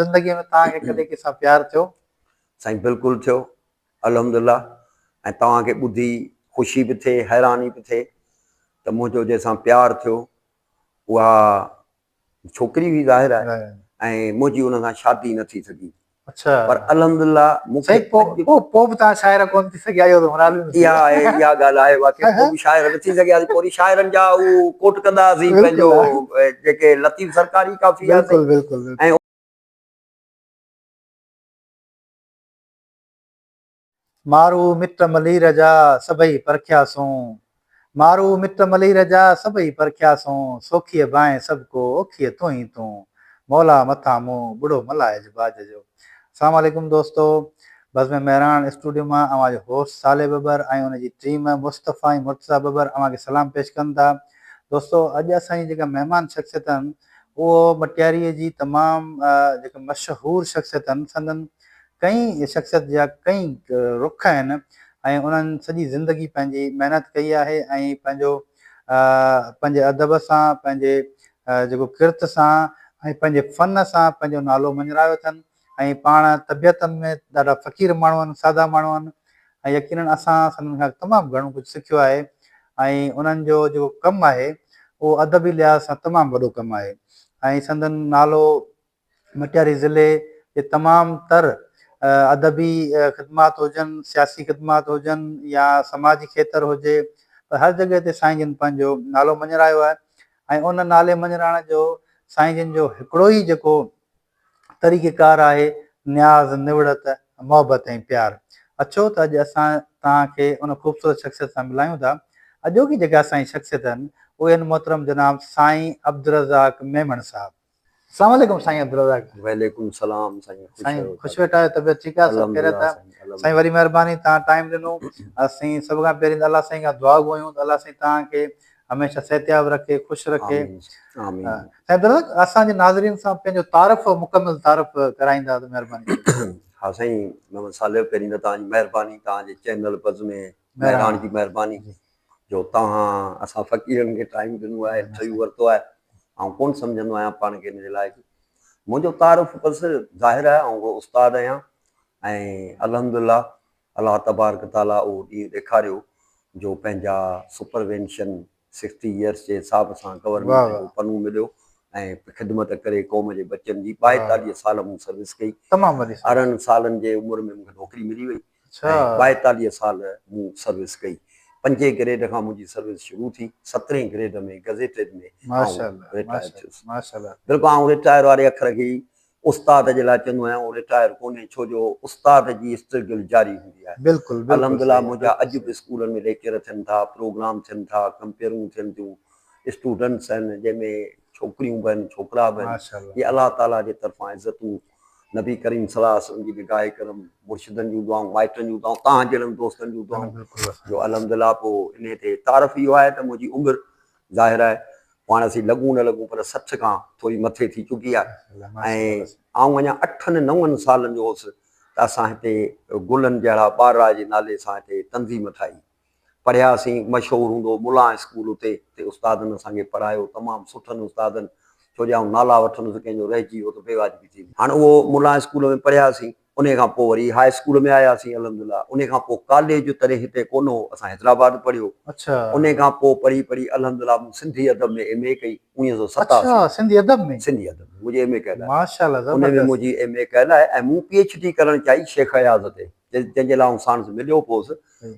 زندگي ۾ توهان کي ڪڏهن ڪنهن سان پيار ٿيو؟ سائين بلڪل ٿيو الحمد الله ۽ توهان کي ٻڌي خوشي به ٿئي حيراني به ٿئي ته منهنجو جنهن سان پيار ٿيو اها ڇوڪري هئي ظاهر آهي ۽ منهنجي ان سان شادي نه ٿي سگهي پر الحمد الله مون کي پوء پوء به توهان شاعره ڪونه ٿي سگهيائيو ته مراد به نه ٿيو. اها آهي اها ڳالهه آهي واقعي پوء به شاعر نه ٿي سگهياسين پوري شاعرن جا اهو ڪوٽ ڪندا هئاسين پنهنجو جيڪي لطيف سرڪار ئي ڪافي آهي سائين ۽ مارو مٽ ملير جا سڀئي پرکياسون. مارو مٽ ملير جا سڀئي پرکيا سون، سوکيء بانء سڀ ڪو اوکيء تون ئي تون، مولا مٿان مون ٻڙو ملائج باج جو. اسلام عليڪم دوستو بزم مهراڻ اسٽوڊيو مان اوهان جو هوسٽ صالح ٻٻر ۽ ان جي ٽيم مصطفي ۽ مرتضيٰ ٻٻر اوهان کي سلام پيش ڪن ٿا دوستو اڄ اسان جي جيڪا مهمان شخصيت آهن اهو مٽياريء جي تمام جيڪا مشهور شخصيت آهن سندن ڪئين شخصيت جا ڪئين رخ آهن ۽ انهن سڄي زندگي پنهنجي محنت ڪئي آهي ۽ پنهنجو پنهنجي ادب سان پنهنجي جيڪو ڪرت سان ۽ پنهنجي فن سان پنهنجو نالو مڃرايو اٿن ۽ پاڻ طبيعت ۾ ڏاڍا فقير ماڻهو آهن سادا ماڻهو آهن ۽ يقينن اسان سندن کان تمام گهڻو ڪجهه سکيو آهي ۽ انهن جو جيڪو ڪم آهي اهو ادبي لحاظ سان تمام وڏو ڪم آهي ۽ سندن نالو مٽياري ضلعي جي تمام تر ادبي خدمات هجن، سياسي خدمات هجن يا سماجي کيتر هجي پر هر جڳهه تي سائين جن پنهنجو نالو مڃرايو آهي ۽ ان نالي مڃرائڻ جو سائين جن جو هڪڙو ئي جيڪو طريقه ڪار آهي نياز، نوڙت، محبت ۽ پيار. اچو ته اڄ اسان توهان کي ان خوبصورت شخصيت سان ملايون ٿا. اڄوڪي جيڪي اسان جي شخصيت آهن اهي آهن محترم جناب سائين عبدالرزاق ميمڻ صاحب. اسلام عليڪم سائين عبدالرزاق. وعليڪم سلام سائين خوش سائين رهو خوش ويٺا آهيو طبيعت ٺيڪ آهي سڀ خيريت آهي الحمدلله سائين وڏي مهرباني توهان ٽائيم ڏنو اسين سڀ کان پهرين ته الله سائين کان دعا گهريون ته الله سائين توهان کي هميشه صحتياب رکي خوش رکي آمين آمين سائين عبدالرزاق اسان جي ناظرين سان پنهنجو تعارف مڪمل تعارف ڪرائيندا ته مهرباني ٿيندي ها سائين محمد صالح پهرين ته توهان جي مهرباني توهان جي چينل پز ۾ مهراڻ جي مهرباني جو توهان اسان فقيرن کي ٽائيم ڏنو آهي انٽرويو ورتو آهي آئون ڪونه سمجهندو آهيان پاڻ کي ان جي لائق منهنجو تعارف بس ظاهر آهي آئون ڪو استاد آهيان ۽ الحمدلله الله تبارڪ تعالٰي اهو ڏينهن ڏيکاريو جو پنهنجا سپروينشن سڪسٽي يئرس جي حساب سان گورنمينٽ جو پنو مليو ۽ خدمت ڪري قوم جي ٻچن جي ٻائيتاليهه سال مون سروس ڪئي ارڙهن سالن جي عمر ۾ مون کي نوڪري ملي وئي ۽ ٻائيتاليهه سال مون سروس ڪئي پنجين گريڊ کان منهنجي سروس شروع ٿي سترهين گريڊ ۾ گزيٽيڊ ۾ آئون رٽائر ٿيس بلڪل آئون رٽائر واري اکر کي ئي استاد جي لاء چوندو آهيان اهو رٽائر ڪونهي ڇو جو استاد جي اسٽرگل جاري هوندي آهي بلڪل بلڪل الحمد لله منهنجا اڄ به اسڪولن ۾ ليڪچر ٿين ٿا پروگرام ٿين ٿا ڪمپيئرون ٿين ٿيون اسٽوڊنٽس آهن جنهن ۾ ڇوڪريون به آهن ڇوڪرا به آهن اهي الله تعالي جي طرفان عزتون نبي ڪريم صلي الله عليه وسلم جي نگاهه ڪرم مرشدن جون دعائون مائٽن جون دعائون توهان جهڙن دوستن جون دعائون جو الحمد لله پوء انهي تي تعارف اهو آهي ته منهنجي عمر ظاهر آهي جو هاڻ اسين لڳون نه لڳون پر سٺ کان ٿوري مٿي ٿي چڪي آهي ۽ آئون اڃا اٺن نون سالن جو هوس ته اسان هتي گلن جهڙا ٻارڙا جي نالي سان هتي تنظيم ٺاهي پڙهياسين مشهور هوندو هو ملان اسڪول اتي اتي استادن اسان کي پڙهايو تمام سٺن استادن ڇو جو آئون نالا وٺندس ڪنهن جو رهجي ويو ته بيواجبي ٿيندي هاڻ اهو ملان اسڪول ۾ پڙهياسين انهي کان پوء وري هاء اسڪول ۾ آياسين الحمدلله انهي کان پوء ڪاليج تڏهن هتي ڪونه هو اسان حيدرآباد پڙهيو انهي کان پوء پڙهي پڙهي الحمدلله مون سنڌي ادب ۾ ايم اي ڪئي اڻويهه سؤ ستاسي اڇا سنڌي ادب ۾ سنڌي ادب ۾ منهنجي ايم اي ڪيل آهي ماشاءالله زبردست انهي ۾ منهنجي ايم اي ڪيل آهي ۽ مون پي ايڇ ڊي ڪرڻ چاهي شيخ اياز تي جنهن جي لاء آئون ساڻس مليو به هوس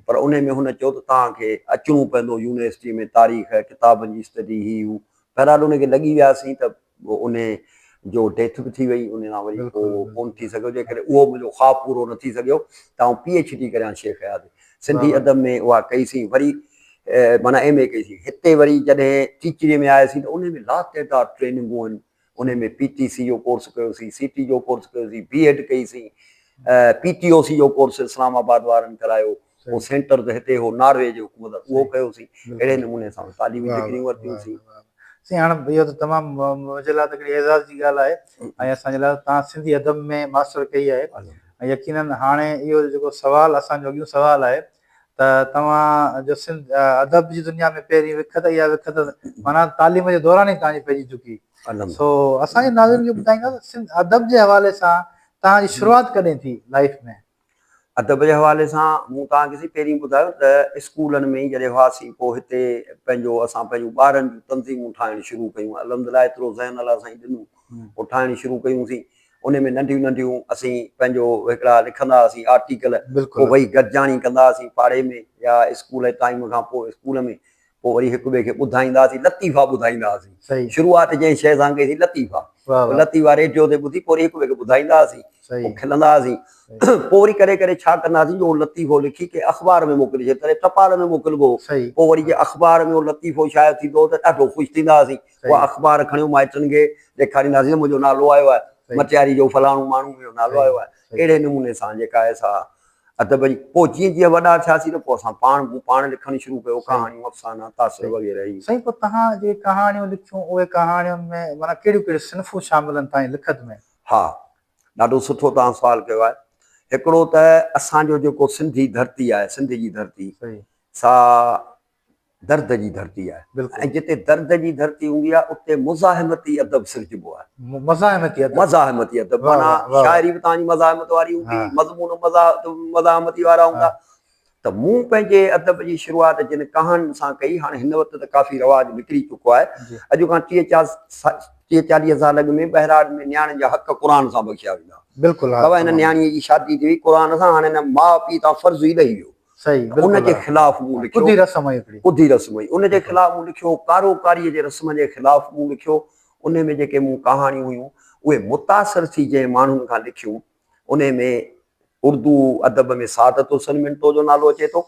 پر انهي ۾ هن چيو ته توهان کي اچڻو پوندو يونيورسٽي ۾ تاريخ ڪتابن جي اسٽڊي هي هو بهرحال انهي کي لڳي وياسين ته انهي جو ڊيٿ به ٿي وئي انهي کان وري پوء ڪون ٿي سگهيو جنهن ڪري اهو منهنجو خواب پورو نه ٿي سگهيو ته آئون پي ايڇ ڊي ڪريان شيخ اياز سنڌي ادب ۾ اها ڪئي سين وري معنيٰ ايم اي ڪئي سين هتي وري جڏهن ٽيچري ۾ آياسين ته انهي ۾ لاتعداد ٽريننگون هين انهي ۾ پي ٽي سي جو ڪورس ڪيو سين سي ٽي جو ڪورس ڪيو سين بي ايڊ ڪئي سين پي ٽي او سي جو ڪورس اسلام آباد وارن ڪرايو اهو سينٽر ته هتي هو ناروي جي حڪومت اهو ڪيوسين اهڙي نموني سان تعليمي ڊگريون ورتيوسين. سائين هاڻ اهو ته تمام منهنجي لاء ته هڪڙي اعزاز جي ڳالهه آهي ۽ اسان جي لاء تان سنڌي ادب ۾ ماسٽر ڪئي آهي ۽ يقيناً هاڻي اهو جيڪو سوال اسان جو اڳيون سوال آهي ته توهان جو سنڌ ادب جي دنيا ۾ پهرين وک ته اها وک ته معنيٰ تعليم جي دوران ئي توهان جي پئجي چڪي سو اسان جي ناظرين کي ٻڌائيندا ته سنڌ ادب جي حوالي سان توهان جي شروعات ڪڏهن ٿي لائيف ۾؟ ادب جي حوالي سان مون توهان کي سائين پهرين ٻڌايو ته اسڪولن ۾ جڏهن هئاسين پوء هتي پنهنجو اسان پنهنجون ٻارن جون تنظيمون ٺاهڻ شروع ڪيون الحمدلله ايترو ذهن الله سائين ڏنو او ٺاهڻ شروع ڪيون سين ان ۾ ننڍيون ننڍيون اسين پنهنجو هڪڙا لکندا هئاسين آرٽيڪل پوء وئي گڏجاڻي ڪندا هئاسين پاڙي ۾ يا اسڪول جي ٽائيم کان پوء اسڪول ۾ پوء وري هڪ ٻئي کي ٻڌائيندا هئاسين، لطيفا ٻڌائيندا هئاسين. شروعات جنهن شيء سان ڪئي سين لطيفا. لطيفا ريڊيو تي ٻڌي پوء وري هڪ ٻئي کي ٻڌائيندا هئاسين. پوء کلندا هئاسين. پوء وري ڪڏهن ڪڏهن ڇا ڪندا هئاسين جو اهو لطيفو لکي ڪنهن اخبار ۾ موڪلي ڇڏيو تڏهن ٽپال ۾ موڪلبو هو. پوء وري جي اخبار ۾ اهو لطيفو شايع ٿيندو هو ته ڏاڍو خوش ٿيندا هئاسين. اها اخبار کڻيو مائٽن کي ڏيکاريندا هئاسين ته منهنجو نالو آيو آهي. مٽياري جو فلاڻو ماڻهو منهنجو نالو آيو آهي. اهڙي نموني سان جيڪا آهي سا ادب جي پوء جيئن جيئن وڏا ٿياسين ته پوء اسان پاڻ مون پاڻ لکڻ شروع ڪيو ڪهاڻيون افسانا تاثر وغيره هي سائين پوء توهان جي ڪهاڻيون لکيون اهي ڪهاڻين ۾ معنيٰ ڪهڙيون ڪهڙيون صنفون شامل آهن توهان جي لکت ۾؟ ها ڏاڍو سٺو توهان سوال ڪيو آهي هڪڙو ته اسان جو جيڪو سنڌي ڌرتي آهي سنڌ جي ڌرتي سا درد جي ڌرتي آهي ۽ جتي درد جي ڌرتي هوندي آهي اتي مزاحمتي ادب سرجبو آهي. مزاحمتي ادب. مزاحمتي ادب معنيٰ شاعري به توهان جي مزاحمت واري هوندي، مضمون به مزاحمتي وارا هوندا ته مون پنهنجي ادب جي شروعات جن ڪهاڻين سان ڪئي، هاڻ هن وقت ته ڪافي رواج نڪري چڪو آهي، اڄ کان ٽيهه چاليهه سال اڳ ۾ ٻهراڙ ۾ نياڻين جا حق قرآن سان بخشيا ويندا هئا. بابا هن نياڻيء جي شادي ٿي وئي قرآن سان، هاڻ هن ماء پيء تان فرض ئي لهي ويو. ان جي خلاف مون لکيو. ڪڌي رسم هئي هڪڙي. ڪڌي رسم هئي. ان جي خلاف مون لکيو. ڪارو ڪاريء جي رسم جي خلاف مون لکيو. انهي ۾ جيڪي مون ڪهاڻيون هيون، اهي متاثر ٿي جنهن ماڻهن کان لکيون، انهي ۾ اردو ادب ۾ سعادت حسن منٽو جو نالو اچي ٿو.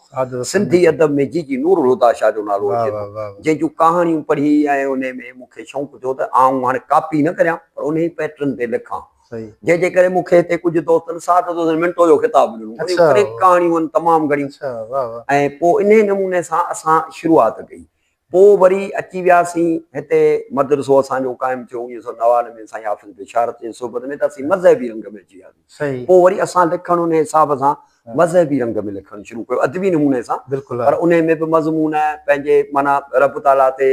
سنڌي ادب ۾ جي جي نورالهديٰ شاهه جو نالو اچي ٿو. جنهن جون ڪهاڻيون پڙهي ۽ انهي ۾ مون کي شوق ٿيو ته آئون هاڻي ڪاپي نه ڪريان، پر انهي پيٽرن تي لکان. جنهن جي ڪري مون کي هتي ڪجهه دوستن ساٺ دوستن منٽو جو خطاب ڏنو. انهيء ڪري ڪهاڻيون هن تمام گهڻيون ۽ پوء انهيء نموني سان اسان شروعات ڪئي. پوء وري اچي وياسين هتي مدرسو اسان جو قائم ٿيو اڻويهه سؤ نوانوي ۾ سائين حافظ بشارت جي صحبت ۾ ته اسين مذهبي رنگ ۾ اچي وياسين. پوء وري اسان لکڻ انهيء حساب سان مذهبي رنگ ۾ لکڻ شروع ڪيو ادبي نموني سان پر انهيء ۾ به مضمون پنهنجي معنيٰ رب تعاليٰ تي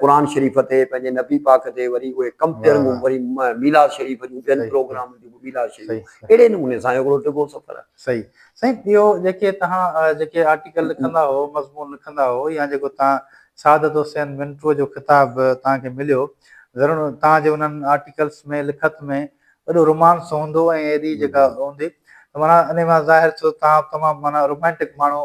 قرآن شريف تي پنهنجي نبي پاڪ تي وري اهي ڪمپيئرنگون وري ميلاد شريف جون ٻين پروگرامن جون ميلاد شريف اهڙي نموني سان هڪڙو ڊگهو سفر آهي. صحيح سائين ٻيو جيڪي توهان جيڪي آرٽيڪل لکندا هئو مضمون لکندا هئو يا جيڪو توهان سعادت حسين منٽو جو خطاب توهان کي مليو ضرور توهان جي انهن آرٽيڪلس ۾ لکت ۾ وڏو رومانس هوندو ۽ ايڏي جيڪا هوندي ته معنيٰ انهي مان ظاهر ٿيو توهان تمام معنيٰ رومانٽڪ ماڻهو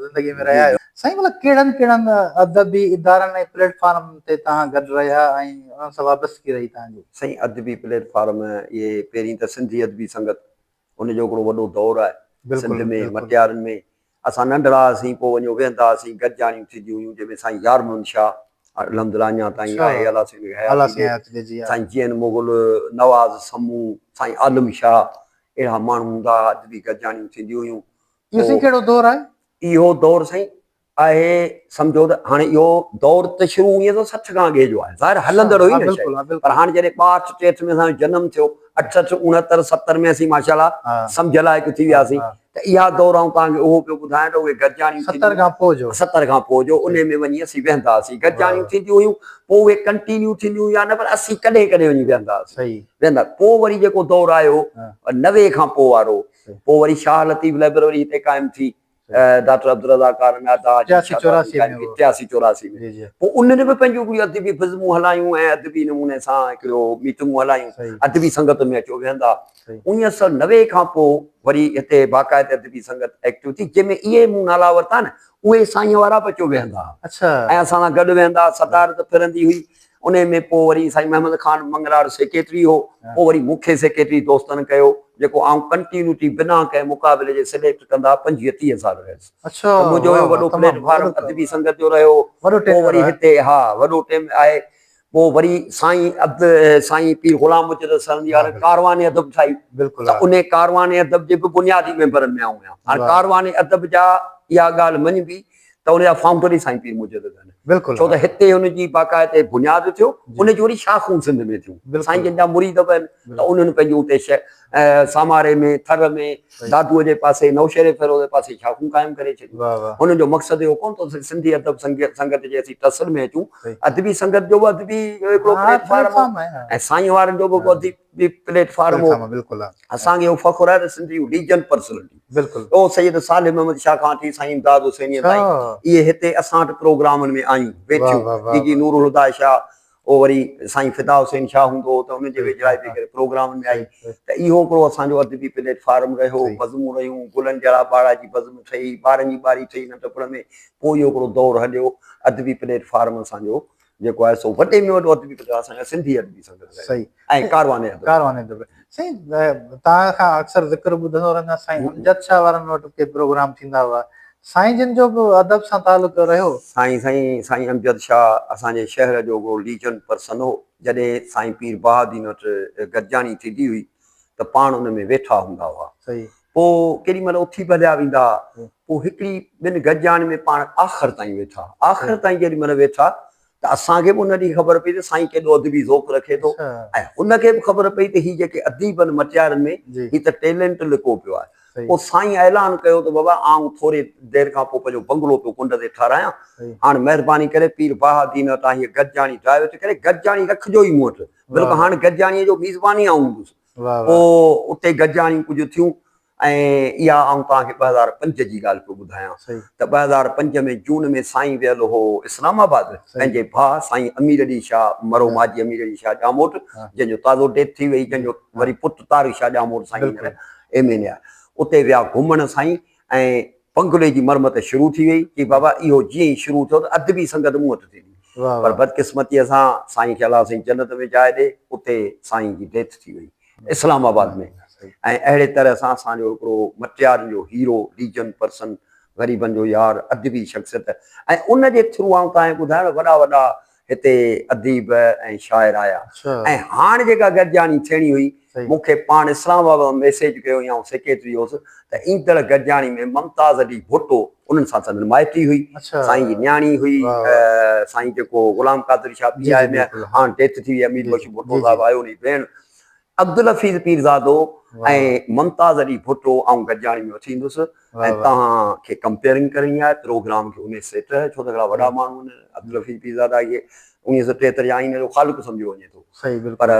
زندگي ۾ رهيا آهيو. سائين ڀلا ڪهڙن ڪهڙن ادبي ادارن ۽ پليٽ فارمن تي توهان گڏ رهيا ۽ انهن سان وابستگي رهي توهان جي؟ سائين ادبي پليٽ فارم اهي پهرين ته سنڌي ادبي سنگت ان جو هڪڙو وڏو دور آهي سنڌ ۾ مٽيارن ۾ اسان ننڍڙا هئاسين، پوء وڃيو ويهندا هئاسين، گڏجاڻيون ٿينديون هيون، جنهن ۾ سائين يار محمد شاهه الحمد الله اڃا تائين آهي، الله سين جي حياتي ۾ سائين جي اين مغل، نواز سمون، سائين عالم شاهه اهڙا ماڻهو هوندا هئا، اڄ به گڏجاڻيون ٿينديون هيون. اهو سائين ڪهڙو دور آهي؟ اهو دور سائين آهي سمجهو ته هاڻي اهو دور ته شروع هونئن ته سٺ کان اڳي جو آهي، ظاهر هلندڙ هئي نه شايد، پر هاڻي جڏهن ٻاهٺ ٽيهٺ ۾ اسان جو جنم ٿيو، اٺهٺ اڻهتر ستر ۾ اسين ماشاءالله سمجهه لائق ٿي وياسين، ته اها دور آئون توهان کي اهو پيو ٻڌايان ته اهي گڏجاڻيون ٿينديون. ستر کان پوء جو. ستر کان پوء جو انهي ۾ وڃي اسين ويهندا هئاسين. گڏجاڻيون ٿينديون هيون. پوء اهي ڪنٽينيو ٿينديون يا نه پر اسين ڪڏهن ڪڏهن وڃي ويهندا هئاسين. صحيح. ويهندا. پوء وري جيڪو دور آيو نوي کان پوء وارو پوء وري شاهه لطيف لائبرري هتي قائم ٿي ڊاڪٽر عبدالرزاق ڪارنگا اداء جي ٽياسي چوراسي ۾ هو. ٽياسي چوراسي ۾. جي جي. پوء انهن به پنهنجون هڪڙيون ادبي بزمون هلايون ۽ ادبي نموني سان هڪڙو ميٽنگون هلايون. صحيح. ادبي سنگت ۾ اچو ويهندا. انيس سؤ نوي کان پوء وري هتي باقاعده ادبي سنگت ايڪٽو ٿي جنهن ۾ اهي مون نالا ورتا نه اهي سائين وارا به اچو ويهندا ها ۽ اسان سان گڏ ويهندا ها صدارت ڦرندي هئي انهي ۾ پوء وري سائين محمد خان مڱراڙ سيڪريٽري هو پوء وري مون کي سيڪريٽري دوستن ڪيو جيڪو آئون ڪنٽينيوٽي بنا ڪنهن مقابلي جي سليڪٽ ڪندا پنجويهه ٽيهه سال رهيس ته منهنجو اهو وڏو پليٽ فارم ادبي سنگت جو رهيو پوء وري هتي ها وڏو ٽيم آهي پوء وري سائين عبد سائين پير غلام مجدد سرهندي وارن هڪ ڪاروان ادب ٺاهي ته انهي ڪاروان ادب جي به بنيادي ميمبرن ۾ آئون آهيان. هاڻي ڪاروان ادب جا اها ڳالهه مڃبي ته ان جا فائونڊر ئي سائين پير مجدد آهن. ڇو ته هتي ان جي باقاعدي بنياد اٿيو، ان جون وري شاخون سنڌ ۾ ٿيون. سائين جن جا مريد به آهن ته انهن پنهنجون اتي ساماري ۾ ٿر ۾ دادوء جي پاسي نوشهري فيروز جي پاسي شاخون قائم ڪري ڇڏيون. هنن جو مقصد اهو ڪونه ٿو ته سنڌي ادب سنگت جي اسين ٽسر ۾ اچون. ادبي سنگت جو به ادبي هڪڙو پليٽ فارم هو ۽ سائين وارن جو به ادبي پليٽ فارم هو. اسان کي اهو فخر آهي ته سنڌي ليجنڊ پرسنلٽي او سيد صالح محمد شاهه کان وٺي سائين امداد حسينيء تائين اهي هتي اسان وٽ پروگرامن ۾ آيون، ويٺيون. جي جي نورالهديٰ شاهه، پوء وري سائين فدا حسين شاهه هوندو هو ته ان جي ويجهڙائي به ڪري پروگرامن ۾ آئي ته اهو هڪڙو اسان جو ادبي پليٽ فارم رهيو، بزمون رهيون، گلن جهڙا ٻارڙا جي بزم ٺهي، ٻارن جي ٻاري ٺهي ننڍپڻ ۾، پوء اهو هڪڙو دور هليو، ادبي پليٽ فارم اسان جو جيڪو آهي سو وڏي ۾ وڏو ادبي پليٽ فارم اسان جي سنڌي ادبي سنگت رهيو. ۽ ڪاروان ادب. ڪاروان ادب. سائين توهان کان اڪثر ذڪر ٻڌندو رهندو آهيان سائين امجد شاهه وارن وٽ ڪي پروگرام ٿيندا هئا سائين جن جو به ادب سان تعلق رهيو. سائين سائين سائين امجد شاهه اسان جي شهر جو ڪو ليجنڊ پرسن هو جڏهن سائين پير بهاء الدين وٽ گڏجاڻي ٿيندي هئي ته پاڻ ان ۾ ويٺا هوندا هئا پوء ڪيڏي مهل اٿي به هليا ويندا ها پوء هڪڙي ٻن گڏجاڻين ۾ پاڻ آخر تائين ويٺا آخر تائين جيڏي مهل ويٺا ته اسان کي به ان ڏينهن خبر پئي ته سائين ڪيڏو ادبي ذوق رکي ٿو ۽ هن کي به خبر پئي ته هي جيڪي اديبن مٽيارن ۾ هي ته ٽيلنٽ لڪو پيو آهي. پوء سائين اعلان ڪيو ته بابا آئون ٿوري دير کان پوء پنهنجو بنگلو پيو ڪنڊ تي ٺاراهيان، هاڻ مهرباني ڪري پير بهاء الدين وٽان هيء گڏجاڻي ڊرائيو ٿي ڪري، گڏجاڻي رکجو ئي مون وٽ، بلڪ هاڻ گڏجاڻيء جو ميزبان ئي آئون هوندس. پوء اتي گڏجاڻيون ڪجهه ٿيون ۽ اها آئون توهان کي ٻه هزار پنج جي ڳالهه پيو ٻڌايان ته ٻه هزار پنج ۾ جون ۾ سائين ويل هو اسلام آباد پنهنجي ڀاء سائين امير علي شاهه مرحوم حاجي امير علي شاهه ڄاموٽ جنهن جو تازو ڊيٿ ٿي وئي جنهن جو وري پٽ طارق شاهه ڄاموٽ سائين هينئر ايم اين اي آهي اتي ويا گهمڻ سائين ۽ بنگلي جي مرمت شروع ٿي وئي چي بابا اهو جيئن ئي شروع ٿيو ته ادبي سنگت مون وٽ ٿيندي پر بدقسمتيء سان سائين کي الله سائين جنت ۾ جاء ڏي اتي سائين جي ڊيٿ ٿي وئي. اسلام آباد ۾ ۽ اهڙي طرح سان اسان جو هڪڙو مٽيارن جو هيرو، ليجنڊ پرسن، غريبن جو يار، ادبي شخصيت ۽ ان جي ٿرو آئون تنهن ٻڌايان وڏا وڏا هتي اديب ۽ شاعر آيا ۽ هاڻ جيڪا گڏجاڻي ٿيڻي هئي مون کي پاڻ اسلام آباد مان ميسيج ڪيو هئي آئون سيڪريٽري هوس ته ايندڙ گڏجاڻي ۾ ممتاز علي ڀٽو انهن سان سندن مائٽي هئي. سائين جي نياڻي هئي. سائين جيڪو غلام قادر شاهه پياء ۾ هاڻ ڊيٿ ٿي وئي آهي. مير مشهور ڀٽو صاحب آهي انهي جي ڀيڻ. عبدالحفيظ پيرزادو ۽ ممتاز علي ڀٽو آئون گڏجاڻي ۾ اٿي ايندس ۽ توهان کي ڪمپيئرنگ ڪرڻي آهي پروگرام کي انهي سيٽ ڇو ته هڪڙا وڏا ماڻهو آهن عبدالحفيظ پيرزادا کي انهيء سان ٽيهتر جا آئينه جو خالق سمجهيو وڃي ٿو. پر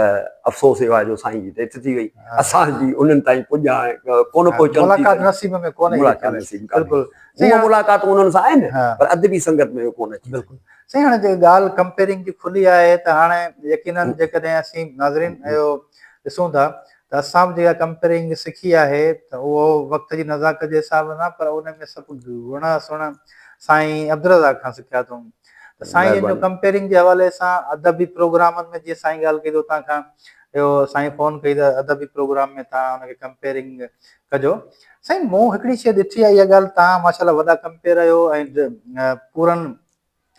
افسوس اهو آهي جو سائين جي ڊيٿ ٿي وئي. اسان جي انهن تائين پڄ هاڻي ڪونه پهچڻ ٿي سگهي. ملاقات نصيب ۾ ڪونه اهي ڳالهه نصيب ڪانهي. هونئن ملاقاتون انهن سان آهن پر ادبي سنگت ۾ اهو ڪونه اچي سگهي. سائين هاڻي جيڪا ڳالهه ڪمپيئرنگ جي کلي آهي ته هاڻي يقينن جيڪڏهن اسين ناظرين اهو ڏسون ٿا ته اسان به جيڪا ڪمپيئرنگ سکي آهي ته اهو وقت جي نزاڪت جي حساب سان پر ان ۾ سڀ گهڻا سهڻا سائين عبدالرزاق کان سکيا اٿئون. ته سائين ان جو ڪمپيرنگ جي حوالي سان ادبي پروگرامن ۾ جيئن سائين ڳالهه ڪئي ته اتان کان اهو سائين فون ڪئي ته ادبي پروگرام ۾ تان ان کي ڪمپيرنگ ڪجو سائين مون هڪڙي شيء ڏٺي آهي اها ڳالهه تان ماشاءالله وڏا ڪمپير آهيو ۽ پورن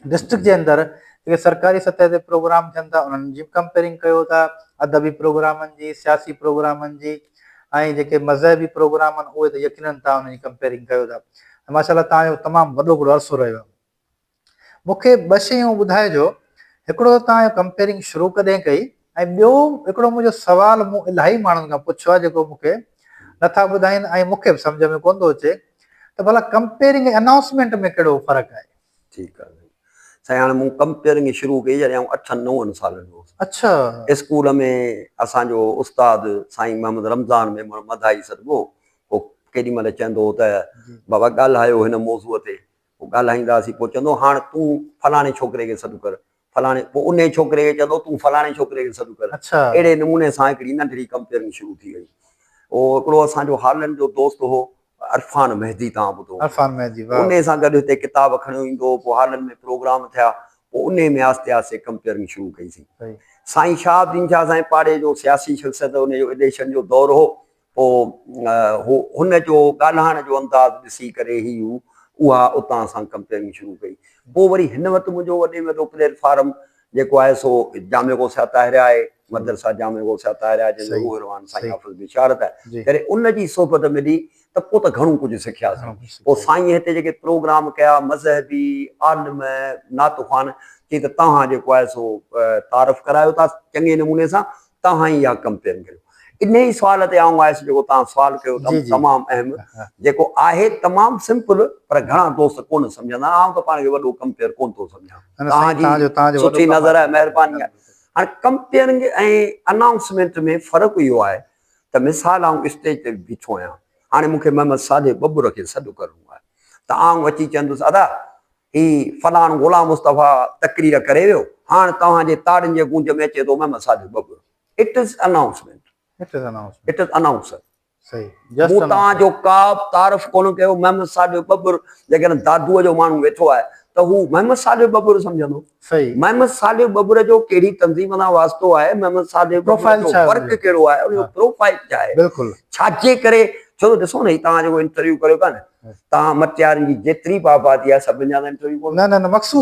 ڊسٽرڪٽ جي اندر جيڪي سرڪاري سطح تي پروگرام ٿين ٿا انهن جي ڪمپيرنگ ڪيو ٿا ادبي پروگرامن جي سياسي پروگرامن جي ۽ جيڪي مذهبي پروگرام آهن اهي ته يقينن تان انهن جي ڪمپيرنگ ڪيو ٿا ماشاءالله تان جو تمام وڏو هڪڙو عرصو رهيو مون کي ٻه شيون ٻڌائجو، هڪڙو ته توهان اهو ڪمپيئرنگ شروع ڪڏهن ڪئي ۽ ٻيو هڪڙو منهنجو سوال مون الاهي ماڻهن کان پڇيو آهي جيڪو مون کي نٿا ٻڌائين ۽ مون کي به سمجهه ۾ ڪونه ٿو اچي ته ڀلا ڪمپيئرنگ ۽ انائونسمينٽ ۾ ڪهڙو فرق آهي؟ ٺيڪ آهي سائين هاڻي مون ڪمپيئرنگ شروع ڪئي جڏهن آئون اٺن نون سالن جو هوس. اڇا. اسڪول ۾ اسان جو استاد سائين محمد رمضان ميمڻ مداحي سڏبو هو ڪيڏي مهل چئندو هو ته بابا ڳالهايو هن موضوع تي پوء ڳالهائيندا هئاسين. پوء چوندو هو، هاڻ تون فلاڻي ڇوڪري کي سڏ ڪر. فلاڻي پوء انهي ڇوڪري کي چوندو هو، تون فلاڻي ڇوڪري کي سڏ ڪر. اهڙي نموني سان هڪڙي ننڍڙي ڪمپيئرنگ شروع ٿي وئي. پوء هڪڙو اسان جو هالينڊ جو دوست هو، عرفان مهدي توهان ٻڌو هوندو. انهي سان گڏ هتي ڪتاب کڻيو ايندو هو. پوء هالينڊ ۾ پروگرام ٿيا. پوء انهي ۾ آهستي آهستي ڪمپيئرنگ شروع ڪئي سين. سائين شهاب الدين شاهه سائين پاڙي جو سياسي شخصيت انهي جو ايڊيشن جو دور هو. پوء هو هن جو ڳالهائڻ جو انداز ڏسي ڪري هي هو اها اتان سان ڪمپيئرنگ شروع ڪئي. پوء وري هن وٽ منهنجو وڏي ۾ وڏو پليٽ فارم جيڪو آهي سو جامع غوث طاهره آهي، مدرسه جامع غوث طاهره آهي جنهن جو روح روان سائين حافظ بشارت آهي. ڪري ان جي صحبت ملي ته پوء ته گهڻو ڪجهه سکياسين. پوء سائينء هتي جيڪي پروگرام ڪيا مذهبي، عالم، نعت خوان چي ته توهان جيڪو آهي سو تعارف ڪرايو ٿا چڱي نموني سان توهان ئي اها ڪمپلين ڪريو انهي سوال تي آئون آيس جيڪو توهان سوال ڪيو تمام اهم جيڪو آهي تمام سمپل پر گهڻا دوست ڪونه سمجهندا آئون ته پاڻ کي وڏو ڪمپيئر ڪونه ٿو سمجهان توهان جي سٺي نظر آهي مهرباني آهي هاڻي ڪمپيئرنگ ۽ انائونسمينٽ ۾ فرق اهو آهي ته مثال آئون اسٽيج تي بيٺو آهيان هاڻي مون کي محمد صالح ٻٻر کي سڏ ڪرڻو آهي ته آئون اچي چوندس ادا هي فلاڻ غلام مصطفيٰ تقرير ڪري ويو، هاڻ توهان جي تاڙين جي گونج ۾ اچي ٿو محمد صادق ٻٻر. It is announcement. It is announcement. It is announcer. صحيح. Just announcer. مون توهان جو ڪابه تعارف ڪونه ڪيو. محمد صادق ٻٻر جيڪڏهن دادوء جو ماڻهو ويٺو آهي ته هو محمد صادق ٻٻر سمجهندو. محمد صالح ٻٻر جو ڪهڙي تنظيم سان واسطو آهي، محمد صالح ٻٻر جو ورڪ ڪهڙو آهي، ان جو پروفائيل ڇا آهي، ڇاجي ڪري، ڇو ته ڏسو نه هي توهان جيڪو انٽرويو ڪريو ٿا نه، توهان مٽيارين جي جيتري به آبادي آهي سڀن جا ته انٽرويو ڪوندا،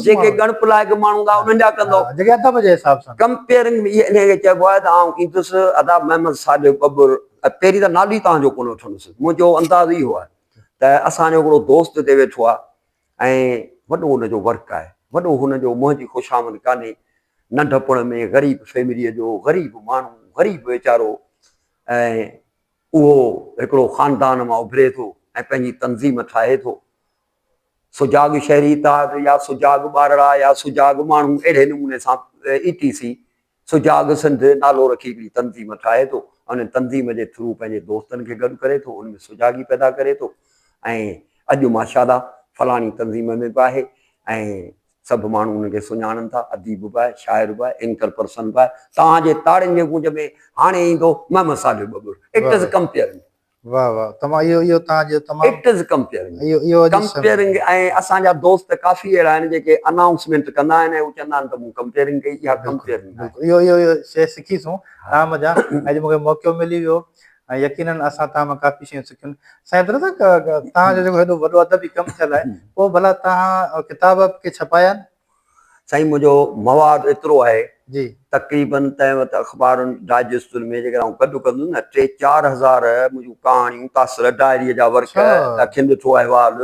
جيڪي ڳڻپ لائق ماڻهو هوندا انهن جا ڪندو، ڪمپيئرنگ ۾ انهيء کي چئبو آهي ته آئون ايندس ادا محمد صالح ٻٻر، پهرين ته نالو ئي توهان جو ڪونه وٺندس، منهنجو انداز اهو آهي ته اسان جو هڪڙو دوست هتي ويٺو آهي، ۽ وڏو ان جو ورڪ آهي. وڏو هن جو منهن جي خوشامد ڪانهي. ننڍپڻ ۾ غريب فيمليء جو غريب ماڻهو، غريب ويچارو ۽ اهو هڪڙو خاندان مان اڀري ٿو ۽ پنهنجي تنظيم ٺاهي ٿو. سجاڳ شهري اتحاد يا سجاڳ ٻارڙا يا سجاڳ ماڻهو اهڙي نموني سان اي ٽي سي سجاڳ سنڌ نالو رکي هڪڙي تنظيم ٺاهي ٿو ۽ ان تنظيم جي ٿرو پنهنجي دوستن کي گڏ ڪري ٿو، ان ۾ سجاڳي پيدا ڪري ٿو ۽ اڄ ماشاءالله فلاڻي تنظيم ۾ به آهي ۽ سڀ ماڻهو ان کي سڃاڻن ٿا، اديب به آهي، شاعر به آهي، اينڪر پرسن به آهي، توهان جي تاڙين جي گونج ۾ هاڻي ايندو Muhammad Saleh Babbar, it is compeering. واھ واھ تمام اھو اھو تان جو تمام اٽ از ڪمپيئرنگ اھو اھو اڄ ڪمپيئرنگ ۽ اسان جا دوست ڪافي اھڙا آھن جيڪي انائونسمينٽ ڪندا آھن ۽ ھو چوندا آھن ته مون ڪمپيئرنگ ڪئي اھا ڪمپيئرنگ ناھي بلڪل اھو اھو شيء سکي سون تان مان جا اڄ مونکي موقعو ملي ويو ۽ يقينن اسان تان مان ڪافي شيون سکيون سائين درزا تان جو جيڪو ھيڏو وڏو ادبي ڪم ٿيل آھي پوء ڀلا تان ڪتاب ڪي ڇپايا آھن سائين منهنجو مواد ايترو آهي تقريباً تنهن وقت اخبارن ڊائجسٽن ۾ جيڪڏهن آئون گڏ ڪندو هوس نه ٽي چار هزار منهنجون ڪهاڻيون تاثر ڊائريء جا ورق اکين ڏٺو احوال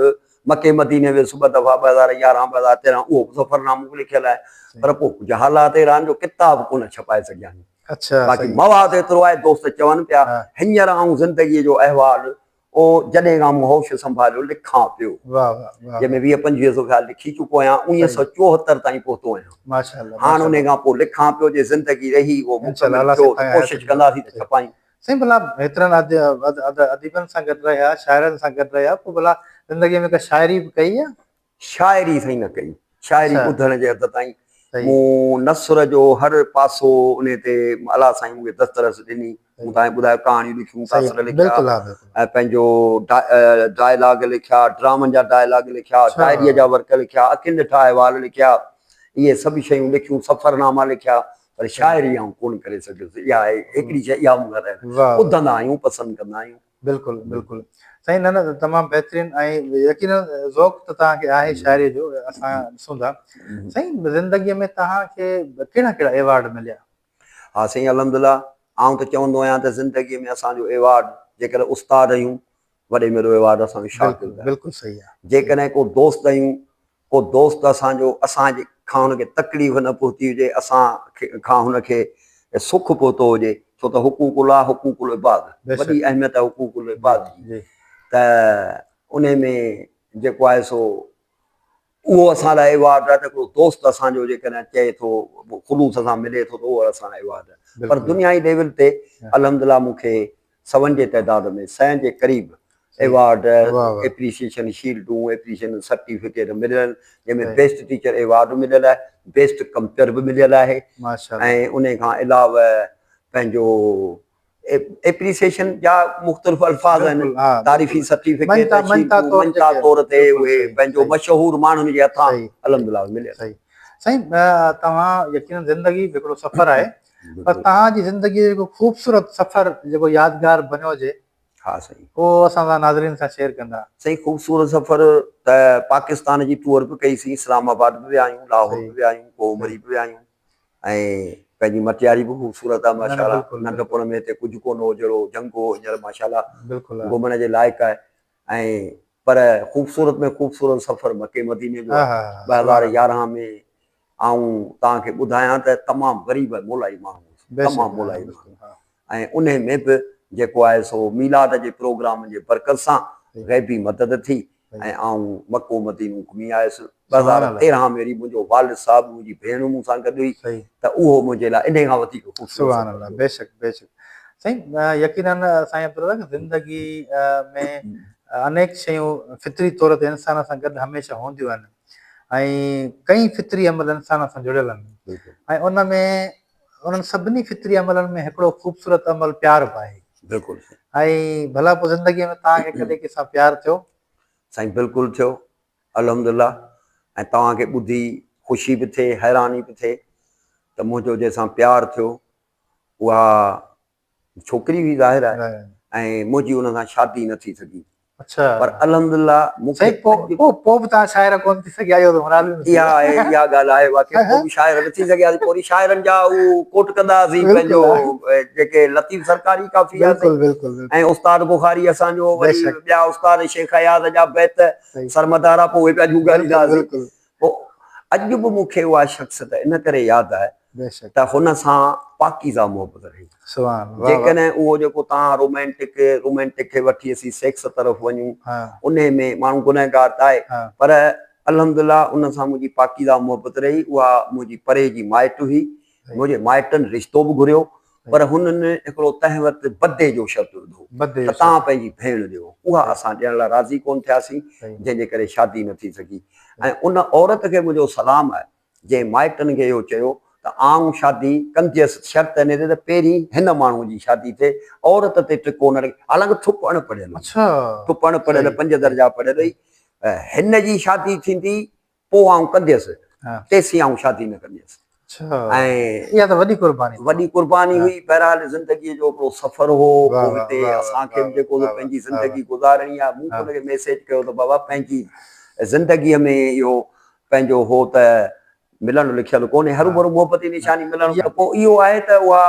مڪي مديني ويس ٻه دفعا ٻه هزار يارهن ٻه هزار تيرهن اهو به سفرنامو به لکيل آهي پر پوء ڪجهه حالات اهڙا آهن جو ڪتاب ڪونه ڇپائي سگهيا آهيون باقي مواد ايترو آهي دوست چون پيا هينئر آئون زندگيء جو احوال او جڏهن کان مون هوش سنڀاليو لکان پيو جنهن ۾ ويهه پنجويهه سؤ خيال لکي چڪو آهيان اڻويهه سؤ چوهتر تائين پهتو آهيان هاڻ انهي کان پوء لکان پيو جي زندگي رهي اهو مڪمل ٿيو ته ڪوشش ڪنداسين ته ڇپائين. سائين ڀلا هيترن اديبن سان گڏ رهيا شاعرن سان گڏ رهيا پوء ڀلا زندگي ۾ ڪا شاعري به ڪئي يا؟ شاعري سائين نه ڪئي. شاعري ٻڌڻ جي حد تائين. مون نثر جو هر پاسو ان تي الله سائين مون کي دسترس ڏني. مون تان ٻڌايو ڪهاڻيون لکيون، تاثر لکيا ۽ پنهنجو ڊائلاگ لکيا، ڊرامن جا ڊائلاگ لکيا، شاعريء جا ورق لکيا، اکين ڏٺا احوال لکيا. اهي سڀ شيون لکيون، سفرناما لکيا. پر شاعري آئون ڪونه ڪري سگهيس. اها آهي هڪڙي شيء اها مون کان رهي وئي. ٻڌندا آهيون، پسند ڪندا آهيون. بلڪل بلڪل سائين نه نه تمام بهترين ۽ يقينن ذوق ته توهان کي آهي شاعري جو اسان ڏسون ٿا سائين زندگي ۾ توهان کي ڪهڙا ڪهڙا ايوارڊ مليا. ها سائين الحمدلله آئون ته چوندو آهيان ته زندگي ۾ اسان جو ايوارڊ جيڪڏهن استاد هيون وڏي ۾ وڏو ايوارڊ اسان جو شاڪر بلڪل بلڪل صحيح آهي جيڪڏهن ڪو دوست هيون ڪو دوست اسان جو اسان کان هن کي تڪليف نه پهتي هجي، اسان کان هن کي سک پهتو هجي، ڇو ته حقوق الله حقوق العباد، وڏي اهميت آهي حقوق العباد جي ته انهي ۾ جيڪو آهي سو اهو اسان لاء ايوارڊ آهي ته هڪڙو دوست اسان جو جيڪڏهن چئي ٿو خلوص سان ملي ٿو ته اهو اسان لاء ايوارڊ آهي پر دنيائي ليول تي الحمدلله مون کي سون جي تعداد ۾ سئين جي قريب ايوارڊ، ايپريسيئيشن شيلڊون، ايپريسيئيشن سرٽيفڪيٽ مليل آهن، جنهن ۾ بيسٽ ٽيچر ايوارڊ به مليل آهي، بيسٽ ڪمپيئر به مليل آهي ۽ ان کان علاوه پنهنجو ايپريسيئيشن جا مختلف الفاظ آهن، تعريفي سرٽيفڪيٽ، مڃتا طور تي اهي پنهنجو مشهور ماڻهن جي هٿان الحمدلله مليل آهن. سائين توهان يقينن زندگي به هڪڙو سفر آهي، پر توهان جي زندگي جو هڪ خوبصورت سفر جيڪو يادگار بنيو هجي ها سائين اهو اسان سان ناظرين سان شيئر ڪندا. سائين خوبصورت سفر ته پاڪستان جي ٽوئر به ڪئي سين اسلام آباد به ويا آهيون لاهور به ويا آهيون ڪوه مري به ويا آهيون ۽ پنهنجي مٽياري به خوبصورت آهي ماشاء الله ننڍپڻ ۾ هتي ڪجهه ڪونه هو جهڙو جنگ هو هينئر ماشاء الله گهمڻ جي لائق آهي ۽ پر خوبصورت ۾ خوبصورت سفر مڪي مديني جو آهي ٻه هزار يارهن ۾ آئون توهان کي ٻڌايان ته تمام غريب ۽ مولائي ماڻهو هوس. تمام مولائي ماڻهو. ۽ انهي ۾ به جيڪو آهي سو ميلاد جي پروگرامن جي برڪت سان غيبي مدد ٿي ۽ آئون مڪو مدينو گهمي آيس. ٻه هزار تيرهن ۾ ري منهنجو والد صاحب ۽ منهنجي ڀيڻ مون سان گڏ هئي ته اهو منهنجي لاء انهي کان وڌيڪ خوبصورت سفر هيو. بيشڪ بيشڪ سائين يقيناً سائين عبدالرزاق زندگي ۾ انيڪ شيون فطري طور تي انسان سان گڏ هميشه هونديون آهن. ۽ ڪئين فطري عمل انسان سان جڙيل آهن ۽ ان ۾ انهن سڀني فطري عملن ۾ هڪڙو خوبصورت عمل پيار به آهي بلڪل ۽ ڀلا پوء زندگي ۾ توهان کي ڪڏهن ڪنهن سان پيار ٿيو؟ سائين بلڪل ٿيو الحمدالله ۽ توهان کي ٻڌي خوشي به ٿئي حيراني به ٿئي ته منهنجو جنهن سان پيار ٿيو اها ڇوڪري هئي ظاهر آهي ۽ منهنجي ان سان شادي نه ٿي سگهي پر الحمدلله مون کي پوء پوء به توهان شاعره ڪونه ٿي سگهيا اهو ته مراد به اها آهي اها ڳالهه آهي واقعي پوء به شاعره نه ٿي سگهياسين پوري شاعرن جا هو ڪوٽ ڪندا هئاسين پنهنجو جيڪي لطيف سرڪاري ڪافي آهي بلڪل بلڪل ۽ استاد بخاري اسان جو وري ٻيا استاد شيخ اياز جا بيت سرمدا را پوء اهي پيا جهونگاريندا هئاسين پوء اڄ به مون کي اها شخصيت ان ڪري ياد آهي ته هن سان پاڪيزه محبت رهي. جيڪڏهن اهو جيڪو توهان رومانٽڪ، Romantic، کي وٺي اسين سيڪس طرف وڃون، انهي ۾ ماڻهو گنهگار ته آهي، پر الحمدلله ان سان منهنجي پاڪيزه محبت رهي، اها منهنجي پري جي مائٽ هئي، منهنجي مائٽن رشتو به گهريو، پر هنن هڪڙو تنهن وقت بدي جو شرط وڌو ته توهان پنهنجي ڀيڻ ڏيو. اها اسان ڏيڻ لاء راضي ڪونه ٿياسين، جنهن جي ڪري شادي نه ٿي سگهي ۽ ان عورت کي منهنجو سلام آهي، جنهن مائٽن کي اهو چيو ته آئون شادي ڪنديس، شرط هن تي ته پهرين هن ماڻهوء جي شادي تي عورت تي ٽڪو نه رکي، حالانڪ ٿپ اڻ پڙهيل هئي، ٿپ اڻ پڙهيل، پنج درجا پڙهيل هئي، هن جي شادي ٿيندي پوء آئون ڪنديس، تيسين آئون شادي نه ڪنديس. اها ته وڏي قرباني. وڏي قرباني هئي، بهرحال زندگيء جو هڪڙو سفر هو، پوء هتي اسان کي به جيڪو سو پنهنجي زندگي گذارڻي آهي، مون هن کي ميسيج ڪيو ته بابا پنهنجي زندگيء ۾ اهو پنهنجو هو ته ملڻ لکيل ڪونهي، هروڀرو محبتي نشاني ملڻ ته پوء اهو آهي ته اها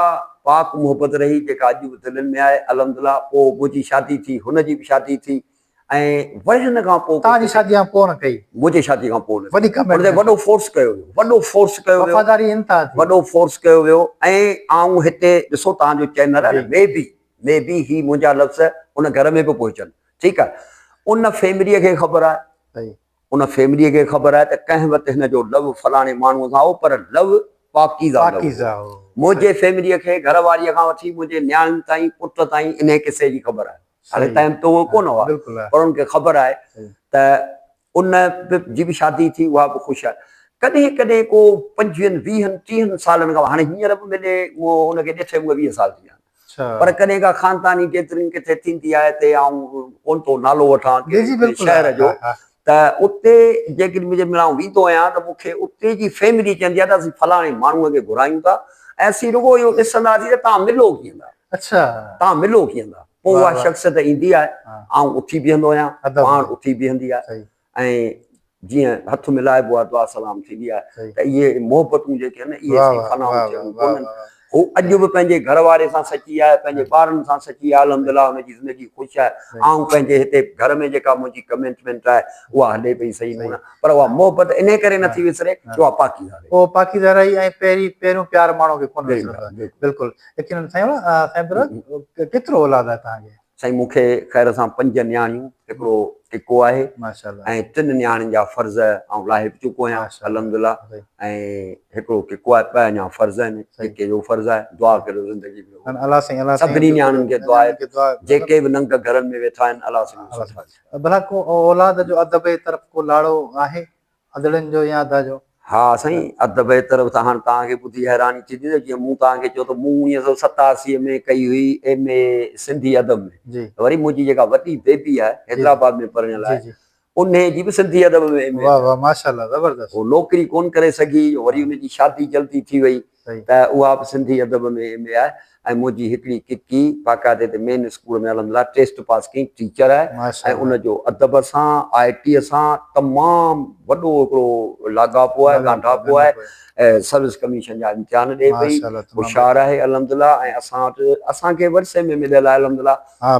پاڪ محبت رهي جيڪا اڄ به دلين ۾ آهي، الحمدلله پوء منهنجي شادي ٿي، هن جي به شادي ٿي. ۽ وري هن کان پوء. توهان جي شادي کان پوء نه ڪئي. منهنجي شادي کان پوء نه ڪئي. ان تي وڏو فورس ڪيو ويو. وڏو فورس ڪيو ويو. وفاداري انتها ٿي. وڏو فورس ڪيو ويو ۽ آئون هتي ڏسو توهان جو چينل آهي نه مي بي مي بي هي منهنجا لفظ ان گهر ۾ به پهچن ٺيڪ آهي ان فيمليء کي خبر آهي ان فيمليء کي خبر آهي ته ڪنهن وقت هن جو لو فلاڻي ماڻهوء سان هو پر لو پاڪيزه لو هو منهنجي فيمليء کي گهر واريء کان وٺي منهنجي نياڻين تائين پٽ تائين انهي قصي جي خبر آهي. هالي تائين ته اهي ڪونه هئا پر انهن کي خبر آهي ته ان جي به شادي ٿي اها به خوش آهي. ڪڏهن ڪڏهن ڪو پنجويهن ويهن ٽيهن سالن کان هاڻي هينئر به ملي مون ان کي ڏٺي مون کي ويهه سال ٿي ويا آهن پر ڪڏهن ڪا خانداني گيدرنگ ڪٿي ٿيندي آهي تي آئون ڪونه ٿو نالو وٺان ڪنهن شهر جو ته اتي جيڪڏهن جنهن مهل آئون ويندو آهيان ته مون کي اتي جي فيملي چوندي آهي ته اسين فلاڻي ماڻهوء کي گهرايون ٿا ۽ اسين رڳو اهو ڏسنداسين ته توهان ملو ڪيئن ٿا. اڇا. تان ملو ڪيئن ٿا؟ پوء اها شخصيت ايندي آهي. آئون اٿي بيهندو آهيان، پاڻ اٿي بيهندي آهي ۽ جيئن هٿ ملائبو آهي، دعا سلام ٿيندي آهي ته اهي محبتون جيڪي آهن اهي سائين فنائون ٿيڻيون ڪونهن. هو اڄ به پنهنجي گهر واري سان سچي آهي، پنهنجي ٻارن سان سچي آهي، الحمدلله هن جي زندگي خوش آهي. آئون پنهنجي هتي گهر ۾ جيڪا منهنجي ڪميٽمينٽ آهي اها هلي پئي صحيح نموني پر اها محبت انهي ڪري نٿي وسري جو اها پاڪيزه رهي. اهو پاڪيزه رهي ۽ پهرين پهريون پيار ماڻهو کي ڪونه وسرندو آهي. بلڪل يقينن سائين سائين برگ ڪيترو اولاد آهي توهان کي. سائين مون کي خير سان پنج نياڻيون هڪڙو ٽڪو آهي ۽ ٽن نياڻين جا فرض آئون لاهي به چڪو آهيان الحمدلله ۽ هڪڙو ٽڪو آهي ٻه اڃا فرض آهن ٽڪي جو فرض آهي دعا ڪريو زندگي ۾ سڀني نياڻين کي دعا آهي جيڪي به ننگ گهرن ۾ ويٺا آهن الله سائين بلا ڪو اولاد جو ادب جي طرف ڪو لاڙو آهي ادڙن جو يا ادا جو؟ ها سائين ادا بهتر هو ته هاڻ توهان کي ٻڌي حيراني ٿيندي ته جيئن مون توهان کي چيو ته مون اڻويهه سؤ ستاسي ۾ ڪئي هئي ايم اي سنڌي ادب ۾ ته وري منهنجي جيڪا وڏي بيبي آهي حيدرآباد ۾ پرڻيل آهي انهي جي به سنڌي ادب ۾ ايم اي آهي هو نوڪري ڪونه ڪري سگهي وري ان جي شادي جلدي ٿي وئي ته اها به سنڌي ادب ۾ ايم اي آهي ۽ منهنجي هڪڙي ڪڪي باقاعدي تي مين اسڪول ۾ الحمدلله ٽيسٽ پاس ڪيائين ٽيچر آهي ۽ ان جو ادب سان آء ٽي سان تمام وڏو هڪڙو لاڳاپو آهي ڳانڍاپو آهي سروس ڪميشن جا امتحان ڏئي پئي هوشيار آهي الحمدلله ۽ اسان وٽ اسان کي ورثي ۾ مليل آهي الحمدلله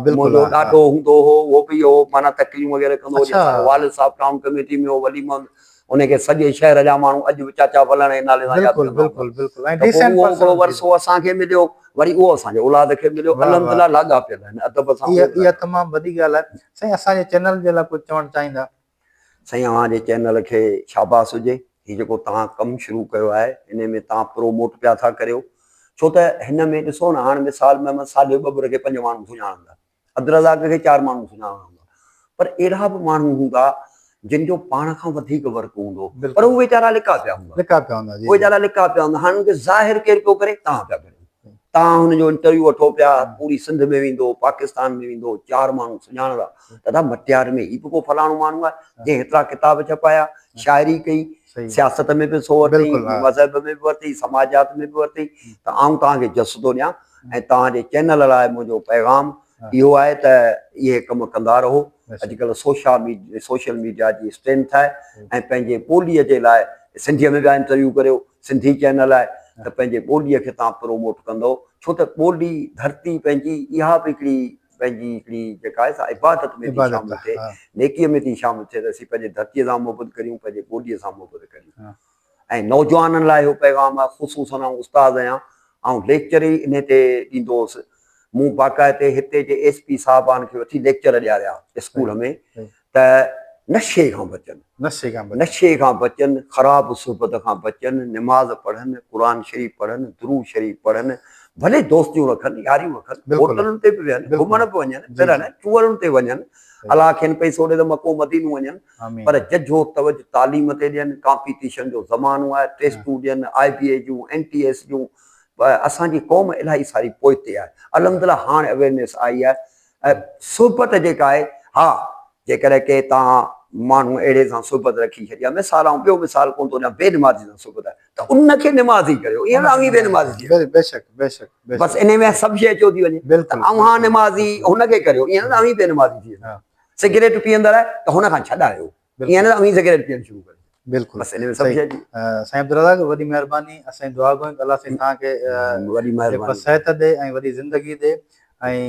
منهنجو ڏاڏو هوندو هو اهو به اهو معنيٰ تقريون وغيره ڪندو هو جيسان والد صاحب ٽائون ڪميٽي ۾ هو ولي محمد انهي کي سڄي شهر جا ماڻهو اڄ به چاچا ولڻ جي نالي سان ياد ڪندا هوندا. بلڪل بلڪل بلڪل ۽ ڊيسينٽ پرسن هوندي هئي. اهو ورثو اسان کي مليو وري اهو اسان جي اولاد کي مليو واهه واهه الحمدلله لاڳاپيل آهن ادب سان اها اها تمام وڏي ڳالهه آهي سائين اسان جي چينل جي لاء ڪجهه چوڻ چاهيندا. سائين اوهان جي چينل کي شاباس هجي هي جيڪو توهان ڪم شروع ڪيو آهي انهي ۾ توهان پرو موٽ پيا ٿا ڪريو ڇو ته هن ۾ ڏسو نه هاڻ مثال محمد صالح ٻٻر کي پنج ماڻهو سڃاڻندا عبدالرزاق کي چار ماڻهو سڃاڻندا هوندا پر اهڙا به ماڻهو هوندا جن جو پاڻ کان وڌيڪ ورڪ هوندو پر هو ويچارا لڪا پيا هوندا لڪا پيا هوندا جي ويچارا لڪا پيا هوندا هاڻ انکي ظاهر ڪير پيو ڪري توهان پيا ڪريو توهان هن جو انٽرويو وٺو پيا پوري سنڌ ۾ ويندو پاڪستان ۾ ويندو چار ماڻهو سڃاڻندا دادا مٽيار ۾ هي به ڪو فلاڻو ماڻهو آهي جنهن هيترا ڪتاب ڇپايا شاعري ڪئي سياست ۾ به سو ورتئي، مذهب ۾ به ورتئي، سماجيات ۾ به ورتئي ته آئون توهان کي جس ٿو ڏيان ۽ توهان جي چينل لاء منهنجو پيغام اهو آهي ته اهي ڪم ڪندا رهو. اڄ ڪلهه سوشا سوشل ميڊيا جي اسٽرينٿ آهي ۽ پنهنجي ٻوليء جي لاء سنڌيء ۾ ٻيا انٽرويو ڪريو، سنڌي چينل آهي ته پنهنجي ٻوليء کي توهان پروموٽ ڪندئو ڇو ته ٻولي، ڌرتي پنهنجي اها به هڪڙي پنهنجي هڪڙي جيڪا آهي سا عبادت ۾ ٿي شامل ٿئي، نيڪيء ۾ ٿي شامل ٿئي ته اسين پنهنجي ڌرتيء سان محبت ڪريون، پنهنجي ٻوڏيء سان محبت ڪريون. ۽ نوجوانن لاء اهو پيغام آهي، خصوصاً آئون استاد آهيان، آئون ليڪچر ئي انهيء تي ڏيندو هوس. مون باقاعدي هتي جي ايس پي صاحبان کي وٺي ليڪچر ڏياريا اسڪول ۾ ته نشي کان بچن، نشي کان بچن، خراب صحبت کان بچن، نماز پڙهن، قرآن شريف پڙهن، درود شريف پڙهن، ڀلي دوستيون رکن، ياريون رکن، هوٽلن تي به ويهن، گهمڻ به وڃن، پرڻ چوڙن تي وڃن، الله کين پئسو ڏي ته مڪو مدينو وڃن، پر ججهو توجه تعليم تي ڏين، ڪامپيٽيشن جو زمانو آهي، ٽيسٽون ڏين، آء بي اي جون، اين ٽي ايس جون، اسان جي قوم الاهي ساري پوئتي آهي، الحمدلله هاڻ اويئرنيس آئي آهي، اهي صحبت جيڪا آهي، ها، جيڪڏهن ڪي تان ماڻهو اهڙي سان صحبت رکي ڇڏي يا مثال آئون ٻيو مثال ڪونه ٿو ڏيان بي نمازي سان صحبت آهي ته ان کي نمازي ڪريو ائين نه اوهين بي نمازي ٿي وڃو بيشڪ بيشڪ بس انهي ۾ سڀ شيء اچيو ٿي وڃي ته اوهان نمازي هن کي ڪريو ائين نه اوهين بي نمازي ٿي وڃو سگريٽ پيئندڙ آهي ته هن کان ڇڏايو. ائين نه ته اوهين سگريٽ پيئڻ شروع ڪري بلڪل سائين عبدالرزاق وڏي مهرباني اسين دعا گوين ته الله سائين توهان کي وڏي مهرباني صحت ڏي ۽ وڏي زندگي ڏي ۽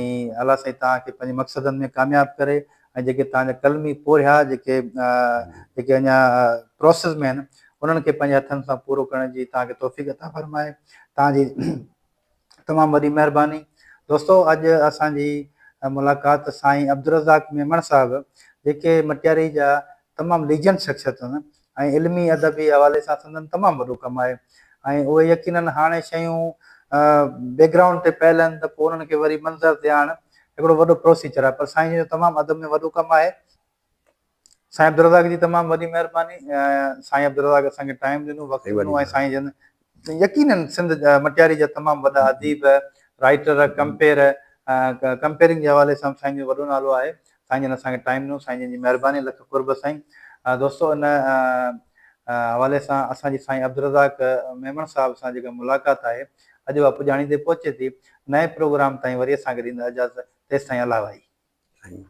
الله سائين توهان کي پنهنجي مقصدن ۾ ڪامياب ڪري ۽ جيڪي توهان جا قلمي پورهيا جيڪي جيڪي اڃا پروسيس ۾ آهن انهن کي پنهنجي هٿن سان پورو ڪرڻ جي توهان کي توفيق عطا فرمائي توهان جي تمام وڏي مهرباني دوستو اڄ اسان جي ملاقات سائين عبدالرزاق ميمڻ صاحب جيڪي مٽياري جا تمام ليجنڊ شخصيت آهن ۽ علمي ادبي حوالي سان سندن تمام وڏو ڪم آهي ۽ اهي يقينن هاڻي شيون بيڪ گرائونڊ تي پيل آهن ته پوء انهن کي وري منظر تي آڻڻ هڪڙو وڏو پروسيجر آهي پر سائين جن جو تمام ادب ۾ وڏو ڪم آهي سائين عبدالرزاق جي تمام وڏي مهرباني سائين عبدالرزاق اسان کي ٽائيم ڏنو وقت ڏنو ۽ سائين جن يقينن سنڌ مٽياري جا تمام وڏا اديب رائيٽر ڪمپيئر ڪمپيئرنگ جي حوالي سان سائين جو وڏو نالو آهي سائين جن اسان کي ٽائيم ڏنو سائين جن جي مهرباني لک قرب سائين دوستو ان حوالي سان اسان جي سائين عبدالرزاق ميمڻ صاحب سان جيڪا ملاقات آهي اڄ اها پڄاڻيندي پهچي ٿي نئين پروگرام تائين وري اسان کي ڏيندا اجازت تيستائين الله وائي